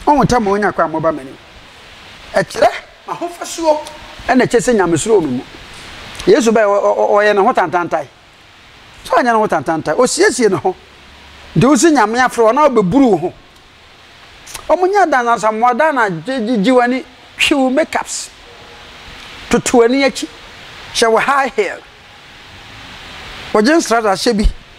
Ɔho tɛ mo nya kwan mo ba m'anim. Ɛkyerɛ m'ahofasuo na ɛkyɛ sɛ nyamesuro wɔ me mu. Yesu bɛyɛ ɔyɛ ne ho tantantae. Sɛ ɔnyɛ ne ho tantantae, ɔsiesie ne ho. Nti wo si nyame afrɛ wɔn a wɔbɛburu wo ho. Wɔn nyɛ adansansa mmoa da na gyegye w'ani, twi wo makeups, toto w'ani akyi, hyɛ wo high heel, wɔgye nsrada hyɛ bi.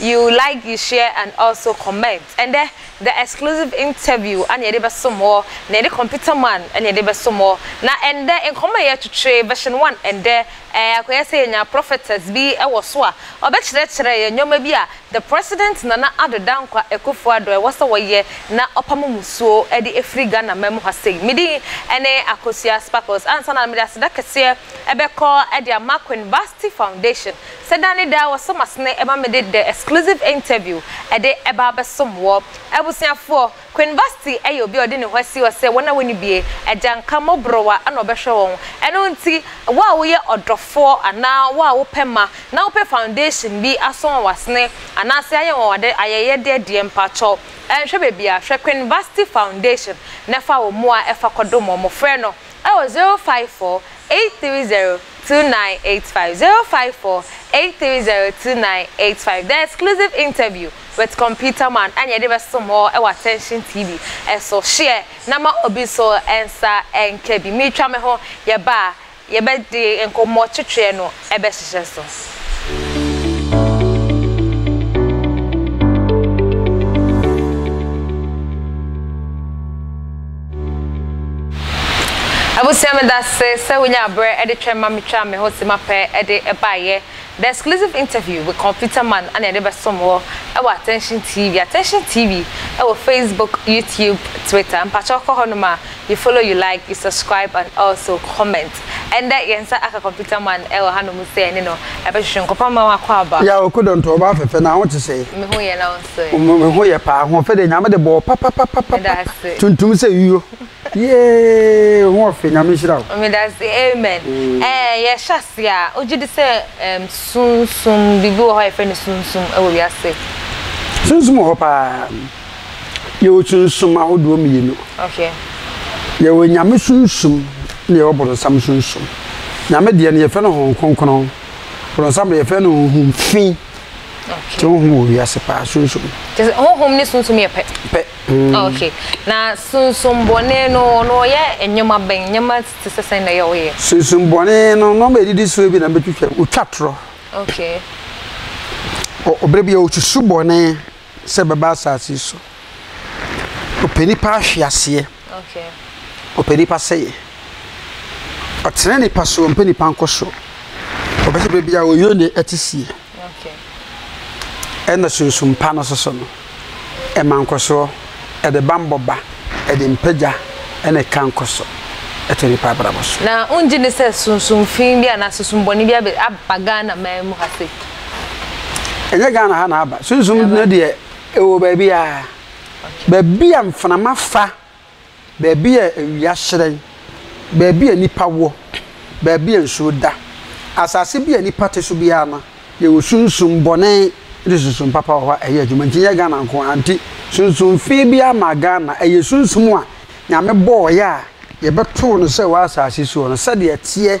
You like you share and also comment ɛndɛ the exclusive interview ɛna yɛde bɛso mo na yɛde computer man ɛna yɛde bɛso mo na ɛndɛ nkɔmɔ a yɛtwetwe version one ɛndɛ ɛɛ akɔyɛ sɛ yɛnya prophetess bi ɛwɔ so a ɔbɛkyerɛkyerɛ yɛn nnoɔma bi a the president Nana Addo Dankwa Akuffo Addo ɛwɔ sɛ wɔyɛ na ɔpamo musuo ɛde ɛfiri Ghana man mu ha sei me din ɛne Akosua Sparkles ansa na mede aseda kɛseɛ ɛbɛkɔ ɛde ama Queen Vasti Foundation Sɛ da ne da wɔsɔ m'asene ma mede The Exclusive Interview de ba abɛsom wɔ. Abusuafoɔ, Queen Vasti yɛ obi a ɔde ne ho asi hɔ sɛ wɔn a wɔnni bie, agya nka mmɔborowa na ɔbɛhwɛ wɔn. Ɛno nti, wo a woyɛ ɔdɔfoɔ anaa wo a wopɛ mma na wopɛ foundation bi asɔ wɔn asene anaasɛ ayɛ wɔn ade ayɛyɛdeɛ deɛ, mpakyɛw nhwɛ baabi a, hwɛ Queen Vasti Foundation na fa wo mmoa fa kɔdom wɔn. Frɛ no Ɛwɔ zero five four eight three zero two nine eight five zero five four eight three zero two nine eight five The exclusive interview with Computer Man ɛna yɛde bɛsom hɔ wɔ Attention TV so Share na ma obi nso nsa nka bi Meretwa me ho yɛba a yɛbɛdi nkɔmmɔ twetweɛ no ɛbɛhyehyɛ so. Abusua medase sɛ wonyaa berɛ de twɛn ma metwaa me ho se mapɛ de baeɛ The exclusive interview with Computer Man na yɛde bɛsom wo wɔ Attention TV Attention TV wɔ Facebook, YouTube, Twitter Mpakyɛw kɔ hɔ nom a You follow, you like, you subscribe and also comment Ɛndɛ yɛn nsa aka computer man ɛwɔ ha nom sɛ ɛne no ɛbɛhwehwɛ nkɔpa ma wakɔ aba. Yaw Okodonto ɔbaa fɛfɛ na ho te sɛn? Me ho yɛ na wo nso ɛ? Me ho yɛ paa, ahoɔfɛ deɛ Nyame de bɔɔ papapapapa, tuntum sɛ yuo, yeeeee wo ho ɔfe, Nyame nhyira wo. Medase amen ɛɛ yɛ hyɛ aseɛ a wo gyedi sɛ ɛɛm sunsum biribi wɔ hɔ a yɛfrɛ no sunsum ɛwɔ wiase. Sunsum wɔ hɔ paa. yɛwɔ sunsum ahodoɔ mmienu yɛwɔ nyame sunsum na yɛwɔ borɔnsam sunsum nyame deɛ no yɛfrɛ no honhom kronkron borɔnsam deɛ yɛfrɛ no honhom fi nti honhom wɔ wiase paa sunsum honhom ne sunsum yɛ pɛ pɛ mm. ah, okay na sunsum bɔne no no ɔyɛ nneɛma bɛn nneɛma te sɛ sɛn na ɛyɛ ɔyɛ sunsum bɔne no nɔɔma ɛdidi soɔ bi na mbɛtwitwa wotwa torɔ okay ɔbrɛ bi a ɔsusu bɔne sɛ ɛbɛba asase yi so. Ɔpɛ nnipa ahweaseɛ. Ɔpɛ nnipa sɛeɛ. Ɔtene nnipa so, ɔmpɛ nnipa nkɔ soro. Ɔpɛ sɛ baabi a ɔyɛ ne ɛte sie. Ɛna sunsum pa no soso no. Ɛma nkɔsoɔ, ɛde bammɔ ba, ɛde mpagya ɛna ɛka nkɔso ɛto nnipa abrabɔ so. Na wongye ne sɛ sunsum fi bi anaa sunsum bɔne bi aba Ghana man mu ha sei? ɛnyɛ ghana ha na aba sunsum no deɛ ɛwɔ baabi a baabi a mframa fa baabi a awia hyerɛn baabi a nipa wɔ baabi a nsuo da asase bi a nipa te so biara no yɛwɔ sunsum bɔne ne sunsum papa wɔ hɔ a ɛyɛ adwuma nti nyɛ ghana nko ara nti sunsum fi bi ama ghana ɛyɛ sunsum a nyame bɔɔyɛ a yɛbɛtoo no sɛ wɔ asase soɔ no sɛdeɛ ɛteɛ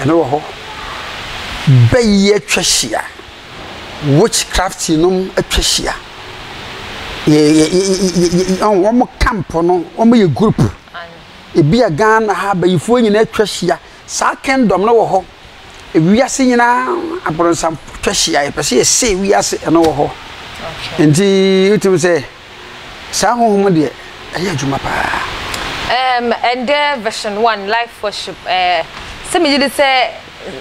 Ɛno wɔ hɔ bɛ yi atwa hyia witch craft nom atwa hyia yɛ yɛ yɛ wɔn camp no wɔn yɛ group ebi a ghana ha abayifoɔ nyinaa atwa hyia saa kingdom no wɔ hɔ wiase nyinaa abrɔnsa atwa hyia yɛ pɛ sɛ yɛ se wiase ɛno wɔ hɔ nti wotum sɛ. Saa honhom no deɛ, ɛyɛ adwuma paa. Um, ɛndɛ version one life worship ɛɛ eh, sɛ megye di sɛ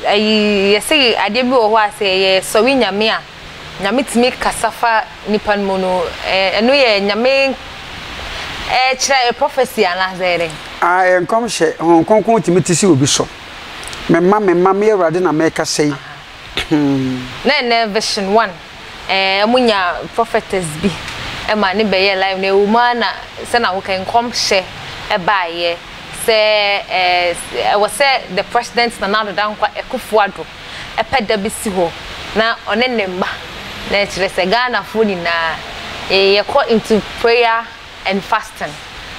ɛyi yɛsɛ adeɛ bi wɔ hɔ a sɛ yɛyɛ sɔre nyame a nyame tumi kasa fa nipa no mu no ɛno yɛ nyame ɛkyerɛ yɛ prophecy anaasɛ yɛ dɛn. Ah, ɛyɛ nkɔmhyɛ honhom kronkron tumi te sɛ obi so mema mema me awurade na mɛkasa yi. Hmm. na ɛnɛ version one. Ɛɛ ɔmo nya prɔfɛtɛs bi ma ne bɛyɛ laif na ɛwɔ mu aa na sɛ na hokɛ nkɔmhyɛ ɛbaa yɛ sɛ ɛɛ ɛwɔ sɛ dɛ prɛsdɛnt Nana Addo Dankwa Akuffo Addo ɛpɛ da bi si hɔ na ɔne ne mma na ɛkyerɛ sɛ Ghana foɔ nyinaa yɛ kɔ into prayer and fasting,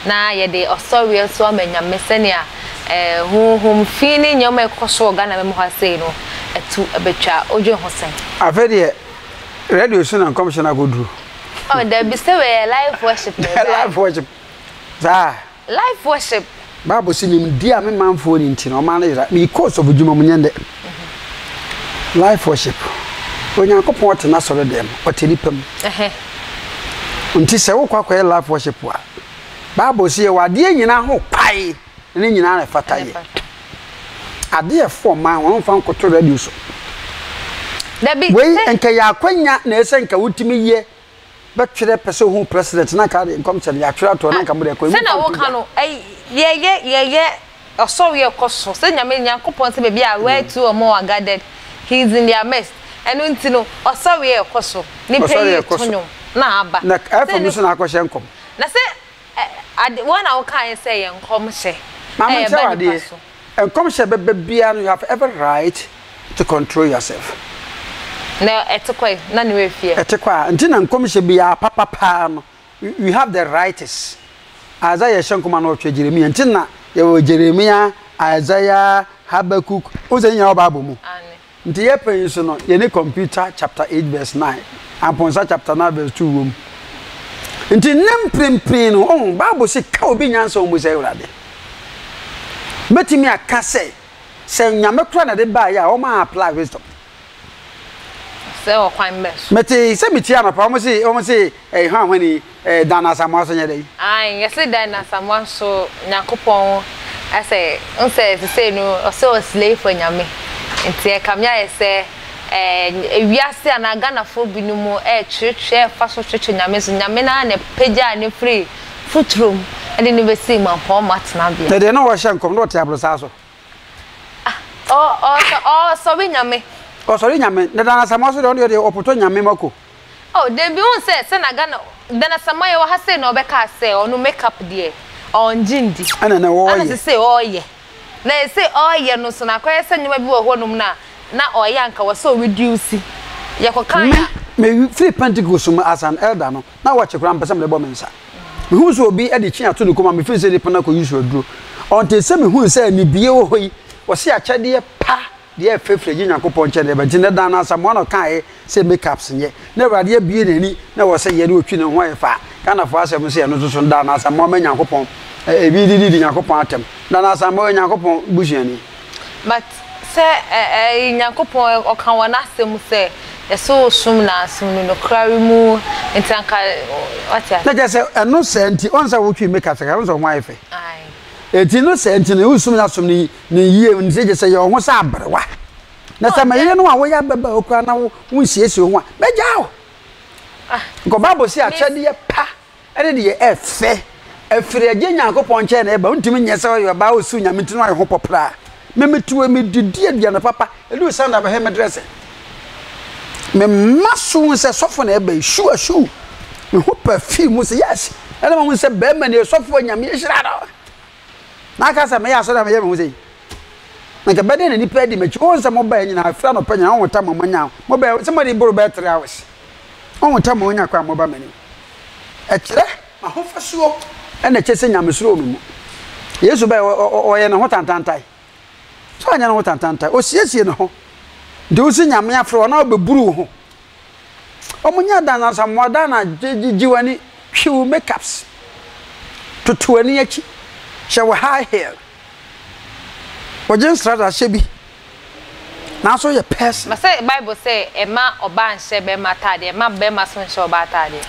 na yɛde ɔsɔreɛ nso ama Nyame sɛnea honhom fi ne nneɛma a ɛkɔ so wɔ Ghana mma mu ha sei no atu abɛtwa. Wodwen ho sɛn? Afei deɛ radio so na nkɔmhyɛ no akɔduru. Oh, dabi sɛ wei yɛ live worship na ɛbaeɛ. live worship saa. Live worship. Bible se nimdeɛ a me manfoɔ ni nti no ɔman no yera. Mekɔ ɔsɔfodwuma mu, nyɛ ndɛ. Life worship. Onyankopɔn ɔte n'asɔredɛm mu, ɔte nipa mu. Nti sɛ wokɔ akɔyɛ life worship a, Bible se yɛwɔ adeɛ nyinaa ho kwae na ne nyinaa na ɛfata yɛ. Adeɛ ɛfo ɔman, wɔmfa nkoto radio so. Wei nka ɛyɛ akwanya na ɛsɛ nka wotumi yɛ bɛtwerɛ pɛ sɛ ɔhu president na nka de nkɔmhyɛ no yɛatwerɛ ato hɔ na nka mode ɛkɔ ɛmu sɛnea woka no yɛyɛ yɛyɛ ɔsɔre ɛkɔ so sɛ nyame nyankopɔn sɛ baabi a where two or more are gathered he is in their midst ɛno nti no ɔsɔre ɛkɔ so nipa yi to nwom na aba na ɛfam no so na akɔhyɛ nkɔm na sɛ ade wɔn na woka yɛ sɛ yɛ nkɔmhyɛ ɛyɛ ba nipa so Nkɔmhyɛ bɛba biara no you have every right to control yourself. Na ɛte kɔ yi na ne werɛ fi ɛ. Ɛte kɔ a nti na nkɔmhyɛ biara papa paa no you have the rights Isaiah ɛhyɛ nkɔma no ɔtwerɛ Jeremia nti na yɛwɔ Jeremia, Isaiah, Habakkuk wohu sɛ ne nyinaa wɔ bible mu. Aane. Nti yɛpɛ yi so no yɛne Computer chapter eight verse nine, Amponsa chapter nine verse two wom. Nti nnɛ mprempren no, ohu, Bible se, Ka obi nyansa wɔ mu sɛ Awurade. Mɛtumi aka sɛ, sɛ Nyame koraa na ɛde baeɛ a, wɔn a apply wisdom. Sɛ ɔkwan bɛn so? Mete sɛ metie anɔpa, wɔn se, wɔn se, ɛyɛ hwanhwani. Ɛɛ Dan Asamoah nso nyɛ dɛn? Ae yɛse Dan Asamoah nso Nyankopɔn asɛ wohu sɛ sesei no ɔsɛ ɔ slave for Nyame nti ɛkame ayɛ sɛ ɛɛ wiase anaa Ghanafoɔ binom ɛɛtweretwere ɛɛfa so tweretwere Nyame so Nyame no ara na ɛpagyaa no firi futuro mu ɛde no bɛsii mampɔɔma tenabea. Ɛdeɛ na ɔɔhyɛ nkɔm na ɔte abrosaa so. Ah ɔ ɔ ɔɔsɔre Nyame. Ɔsɔre Nyame na Dan Asamoah nso deɛ ɔno deɛ ɔpotɔ Nyame mako. Oh dabi wohu sɛ sɛ na Ghana Dan Asamoah yɛ wɔ ha sei na ɔbɛkaa sɛ ɔno make up deɛ ɔngye ndi Ɛna na ɔɔyɛ. ana sesei ɔɔyɛ na ese ɔɔyɛ no nso no akɔyɛ sɛ nneɛma bi wɔ hɔ nom no a na ɔɔyɛ anka wɔ sɛ ɔ reduce yɛkɔ kan Me a me firi Pentecost mu as an elder no na watch koraa mpɛ sɛ mede bɔ me nsa me hu sɛ obi de kyen ato ne kɔn mu a me feel sɛ nipa no akɔ use aduro until sɛ me hu sɛ ne bie wɔ hɔ yi wɔse akyɛdeɛ pa Deɛ yɛ fɛ firi agye Nyankopɔn nkyɛn na yɛbɛgye nɛ daa no Asamoah na ɔkaaɛ sɛ make ups nyɛ na awurade abue nani na ɛwɔ sɛ yɛ na ɔtwi ne ho ayɛ faa Ghanafoɔ asɛm no sɛ ɛno nso so no daa no Asamoah ma Nyankopɔn ɛbi de didi Nyankopɔn atɛm daa no Asamoah yɛ Nyankopɔn busuani. But sɛ ɛɛ Nyankopɔn ɔka wɔ n'asɛm mu sɛ yɛsɛ ɔsom no a som no nokorɛ mu nti anka wate aseɛ. Na kyerɛ sɛ ɛno saa nti ɔn sɛ wotwi make ups kakra ɔn sɛ wo ho ayɛ fɛ ɛti no saa nti no wosom no asomdwie. Ne yie no sɛ gye sɛ yɛ wo ho sɛ aberewa. Na sɛ meyere no a woyɛ ababaawa koraa na wonsiesie wo ho a, mɛgyaa wo. Nkɔ Bible se akyɛdeɛ pa ne deɛ ɛyɛ fɛ ɛfiri Agya Nyankopɔn nkyɛn na ɛba. Wontumi nyɛ sɛ ɔyɛ ɔbaa a ɔsuu Nyame nti na wayɛ ho pɔpraa. Me mete wei medidi aduane papa, ɛduru Sunday a mɛhwɛ me dresse. Me mma so hu sɛ sɔfo na ɛba yi, shoe a shoe. Me ho perfume mu sɛ yes. Ɛna mahu sɛ bɛrima nie, sɔfo a Nyame ahyira no. Maka sɛ mɛyɛ asɔre a meyɛ me ho sɛ yi na nka bɛdɛn na nnipa adi m'akyi wohu sɛ mobaɛ nyinaa firi anɔpa nyinaa wohu tam a moanya mobaɛ sɛ moadi boro bɛyɛ three hours wohu tam a moanya kɔ a moba m'anim ɛkyerɛ m'ahofasuo ɛna ɛkyɛ sɛ nyamesuro wɔ me mu Yesu baɛ ɔyɛ ne ho tantantae sɛ ɔnyɛ ne ho tantantae ɔsiesie ne ho nti wosi nyame afrɛ wɔn a wɔbɛburu wo ho Wɔnyɛ adansansa mmoadaana a gyigye w'ani, twi wo makeups, toto w'ani akyi, hyɛ wo high heel, wogye nsradahyɛ bi, nanso woyɛ person. Mese Bible sɛ ɛma ɔbaa nhyɛ bɛɛma ataadeɛ, ɛma bɛɛma nso nhyɛ ɔbaa ataadeɛ.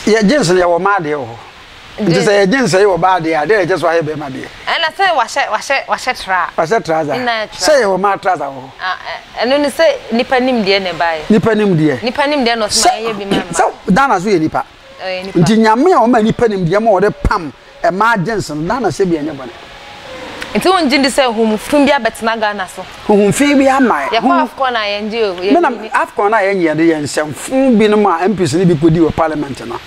Yɛ gyens no yɛwɔ mmaa deɛ wɔ hɔ. Nti sɛ yɛgye nsɛe wɔ baa deɛ a, dɛn na ɛkyɛ so ayɛ bɛrima deɛ? Ɛna sɛ wahyɛ wahyɛ wahyɛ tra. Wahyɛ trouser. Ne nan yɛ tra. Sɛ yɛwɔ maa trouser wɔ hɔ. Ah ɛ ɛno ne sɛ nipa nim deɛ na ɛbaeɛ. Nipa nim deɛ. Nipa nim deɛ na ɔsɛ ma yɛnyɛ bi ma mmaa. Sɛ Ghana nso yɛ nipa. Ɛyɛ nipa. Nti Nyame a ɔma nipa nim deɛ ma ɔde pam mmaa gyens no, Ghana sɛ bi ɛnyɛ bɔne. Nti wo ngye ndi sɛ huhum fun bi abɛtena Ghana so? Huhum fun bi ama. Yɛkɔ Afcon a yɛngye o. Yɛnni. Menam Afcon a yɛngye yɛde yɛn nsɛm fun binom a MPs no bi kɔdi wɔ parliament no.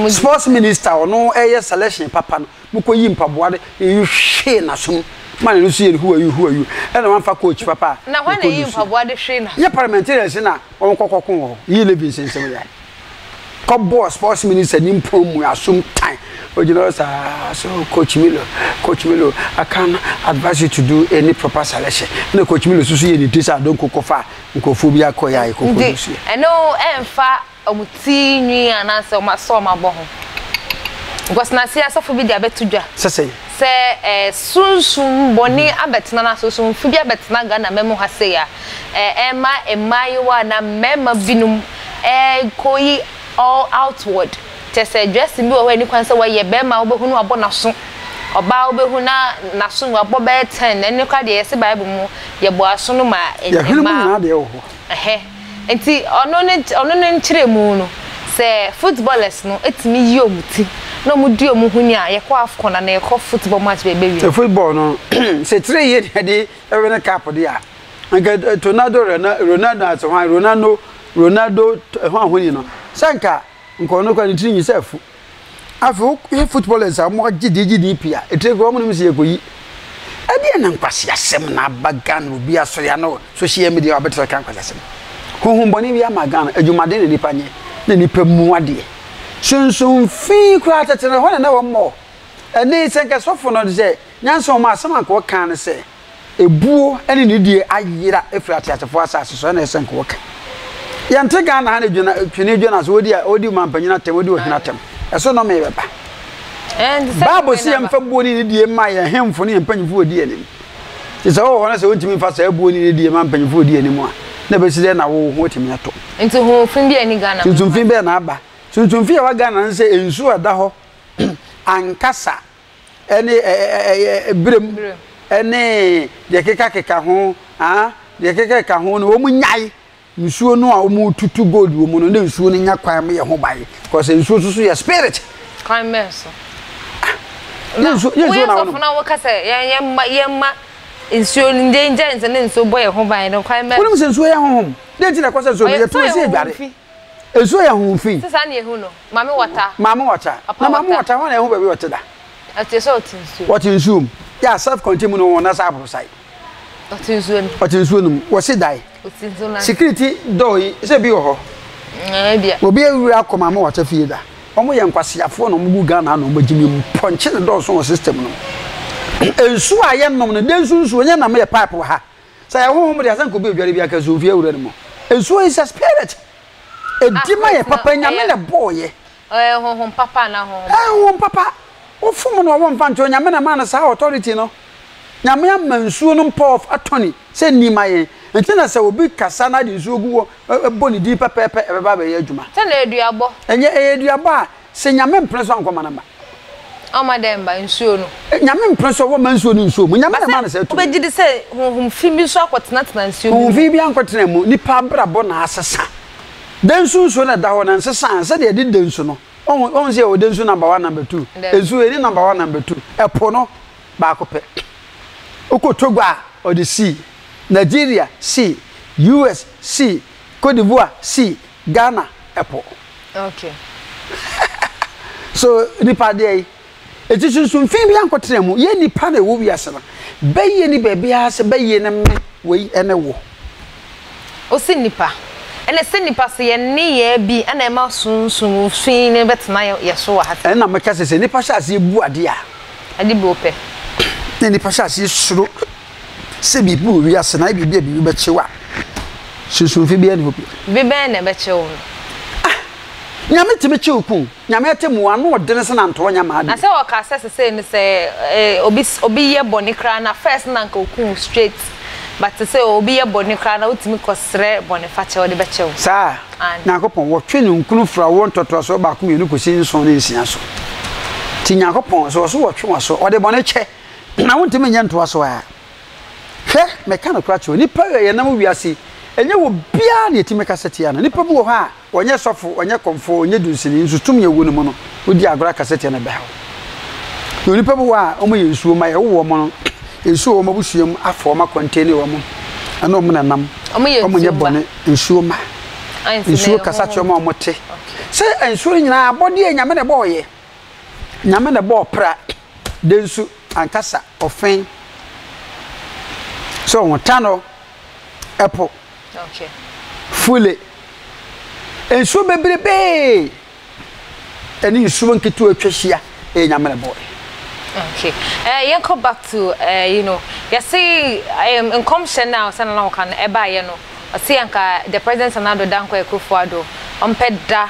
Sports minister a ɔno ɛyɛ selection papa no mo kɔ yi mpaboa de hwee n'aso mu ma n'ani so yɛ no huayu huayu ɛna wɔn fa coach papa a. Na hwan na eyi mpaboa de hwee n'aso. Yɛ parliamentarians na wɔn kɔ kɔ ko wɔ hɔ yi lebi nsɛnsɛm yɛ kɔ bɔɔ sports minister ni mpɔn mu asom tan ogyina hɔ saa so coach Milo coach Milo I can advise you to do any proper selection ɛna coach Milo soso yɛ ne ti sɛ adonko kɔ fa nkurɔfoɔ bi akɔ yɛ a yɛ kɔ kɔ ne so yɛ. Ɛno ɛnfa. wɔn ti nwi anaasɛ wɔn asɔ wɔn abɔ ho. Nkwasenaseɛ asɔfo bi de abɛto dwa Sɛ sɛn? sɛ ɛ, sunsum bɔne abɛtena no ase, sunsum bi abɛtena Ghana mma mu ha sei a, ɛ, ɛma mmaayewa anaa mmarima binom ɛ, kɔyi all outward. Kyerɛ sɛ, dressing bi wɔ hɔ a ɛnni kwan sɛ wɔyɛ, barima a wobɛhu no wabɔ n'aso, ɔbaa a wobɛhu na n'aso no wabɔ bɛyɛ ten, ɛno koraa deɛ yɛse Bible mu yɛbɔ aso no ma ɛ, Yɛhwene mu mmaa. nyinaa deɛ ɛwɔ hɔ. Ɛhɛ. Ntsi ɔno ne ɔno ne nkyerɛmu no, sɛ footballers no tumi yi wɔn ti na wɔn di wɔn ho ni a, yɛkɔ Afcon anaa yɛkɔ football match bia yɛbɛwie. Sɛ football no, sɛ tire yie na yɛde win cup deɛ a, anka Tonaldo, Rena, Ronaldo ase hwan, Ronaldo, Ronaldo, hwan hwan nyina, sɛ anka, anka ɔno koraa ne tiri nyi sɛ afu. afei woyɛ footballers a wɔagye deɛ gye deɛ pii a ɛtire kora wɔnom sɛ yɛkɔyi ɛdeɛ na nkwaseasɛm na aba ghana obi asɔre ana social media wabɛtena ka nkwaseasɛm honhombɔne bi ama ghana adwumaden na nipa nyɛ na nipa mu adeɛ sonsom fi koraa tɛtɛ no hɔ na na wɔmmɔ ɛne sɛ nkɛsɔfo no de sɛ nyansa wɔn asɛm ankɔ kan no sɛ Ebuo ne nidie ayera afiri ateasefoɔ asase so ɛna ɛsɛ nka wɔka. Yɛnte Ghana ha ne dwena, twene dwena so wɔdi, wɔdi mampanyin atɛm, wɔdi ɔhene atɛm. Ɛso nɔmee bɛba. Bible se yɛmfa buo ne nidie mma yɛn hemfo ne yɛn mpanyimfo wɔdi anim. Nti sɛ wowɔ hɔ no sɛ wontumi mfa saa buo ne nidie ma mpanyimfo wɔdi anim a, na ɛbɛsi dɛn na wo ho atumi atɔ? Nti hofi bi ani Ghana? Sunsumfi bɛn na aba? Sunsumfi a ɛwɔ Ghana ne sɛ nsuo a ɛda hɔ ankasa ne birem ne deɛ ɛkekakeka ho ah deɛ ɛkekakeka ho no wɔnyae nsuo no a wɔtutu gold wɔ mu no na nsuo no nya kwan yɛ ho ban because nsuo nso so yɛ spirit. kwan bɛn so. Ah, na woyɛ sɔfo na wɔka sɛ yɛmma yɛmma nsuo no yɛngya nsa ne nsuo bɔ yɛn ho ban no kwan bɛn. wonim sɛ nsuo yɛ honhom dɛn nti na ɛkɔ sɛ nsuo no yɛtu sɛ yɛdware Nsuo yɛ ho fi. Sɛ saa na ehu no, Maame Wata. Maame Wata. Na Maame Wata hɔn na ehu baabi ɔte da. Ɔte sɛ ɔte nsuo mu. Ɔte nsuo mu. Yɛ self contain mu no hɔn nasa aborosae. Ɔte nsuo no mu. Ɔte nsuo no mu. Wɔsi dae. Ɔte nsuo no ase. Security door yi, sɛ ebi wɔ hɔ. Ɛɛ ebia. Obi awura akɔ Maame Wata fie da. Wɔn yɛ nkwaseafoɔ na wɔn gu Ghana ha na wɔn agyimi mu. Pɔnkye no dɔɔso wɔ system no mu. Nsuo a yɛnom no, dɛ nsu nsuo, nyɛ nam yɛ pipe wɔ ha. Sɛ yɛ honhom de a sɛ nka obi odware bi anka nsu mfi awura no mu. Nsuo is a spirit. Edi ma yɛ papa nyame na ɛbɔɔ yɛ. Ɛyɛ honhom papa anaa honhom bɔne? Ɛyɛ honhom papa. Wofom no a wɔmfa nto nyame na ɛmaa no saa authority no. Nyame ama nsuo no power of attorney sɛ ni ma yɛn. Nti na sɛ obi kasa na ade nsuo gu hɔ bɔ ne din pɛpɛɛpɛ ɛbɛba abɛyɛ adwuma. Sɛ na aduabɔ. Ɛnyɛ ɛyɛ aduabɔ a. Sɛ Nyame mpene so a nkɔma no mma. Ɔma dɛn mma? Nsuo no. Nyame mpene so a wɔmma nsuo no nsuo mu. Nyame na ɛma no saa tumi. Wobɛgye di sɛ honhom fi bi nso akɔtenatena nsuo bi mu? Honhom fi bi ankɔtena mu. Nipa abrabɔ na asesa. Dɛ nsu nsuo na ɛda hɔ no nsesa a, sɛdeɛ yɛde dɛ nsu no. Wohu, wohu sɛ yɛwɔ dɛ nsu number one, number two. Nsuo yɛnni number one, number two. Ɛpo no, baako pɛ. Wokɔ Togo a, ɔde sea. Nigeria, sea. US, sea. Cote d'Ivoire, sea. Ghana ɛpo. Okay. so nipa deɛ yi eti sunsun fi bi ankɔtena mu yɛ nipa na ɛwɔ wiase no bɛyie ni baabi a sɛ bɛyie no me wei ɛne wo. osi nipa ɛna sɛ nipa sɛ yɛn nneyɛɛ bi ɛna ɛma sunsun fi no bɛtena yɛ so wɔ ha. ɛna mɛka sɛ sɛ nipa hyɛ aseɛ bu adeɛ a. ɛde bi opɛ. na nipa hyɛ aseɛ suro sɛ biribi wɔ wiase na ayɛ biribi a biribi bɛkye wo a, sunsumfi biara nni hɔ bio. Biribi bɛn na ɛbɛkye wo no? Ah! Nyame tumi kye wo kun. Nyame atemmu, ano ɔdene sɛ nantoa nya mmaa bio. Na sɛ ɔka sɛ sesei no sɛ eh, obi obi yɛ bɔne koraa na first na nka oku wo straight but sesei obi yɛ bɔne koraa na wotumi kɔsrɛ bɔnefakyɛ ɔde bɛkyɛ wo. Saa? Aane. Nyankopɔn, wɔtwe ne nkunu firi awoɔ ntɔtoasoɔ baako mmienu kɔsi nson ne nsia so. Nti Nyankopɔn, sɛ ɔse wɔtwe w'aso, ɔde bɔne kyɛ. Na wontumi nyɛ ntoa so ara. Hwɛ, meka nokorɛ akyerɛ wo, nnipa a yɛnam wiase yi, ɛnyɛ obiara na yɛtumi kasa tia no. Nnipa bi wɔ hɔ a, ɔnyɛ sɔfo, ɔnyɛ kɔmfoɔ, ɔnyɛ dunsini, nso tumi a ɛwɔ ne mu no, wodi agorɔ akasa tia no bɛha wo. Na nnipa bi wɔ hɔ a, wɔyɛ nsuo mma, yɛwo wɔn no, nsuo wɔ wɔn abusua mu afa wɔn akɔntene wɔn, ɛne wɔn na ɛnam, wɔnyɛ bɔne, nsuo mma. Nsuo kasa kyerɛ wɔn a wɔte. Sɛ nsuo no nyinaa abɔdeɛ a Nyame na ɛbɔɔyɛ. Nyame na ɛbɔɔ pra, Dɛ nsu ankasa ɔfɛn sɛ ɔho ta no ɛpo fule nsuo bebrebee ɛne nsuo nketewa atwa hyia ɛyɛ nyamere boɔ. Okay. Uh, yɛn kɔ back to uh, you know yɛsi um, nkɔmhyɛ na ɔsan na ɔka no ɛbaayɛ no ɔsi anka the president sanado dankwa ekufuado ɔmpɛ da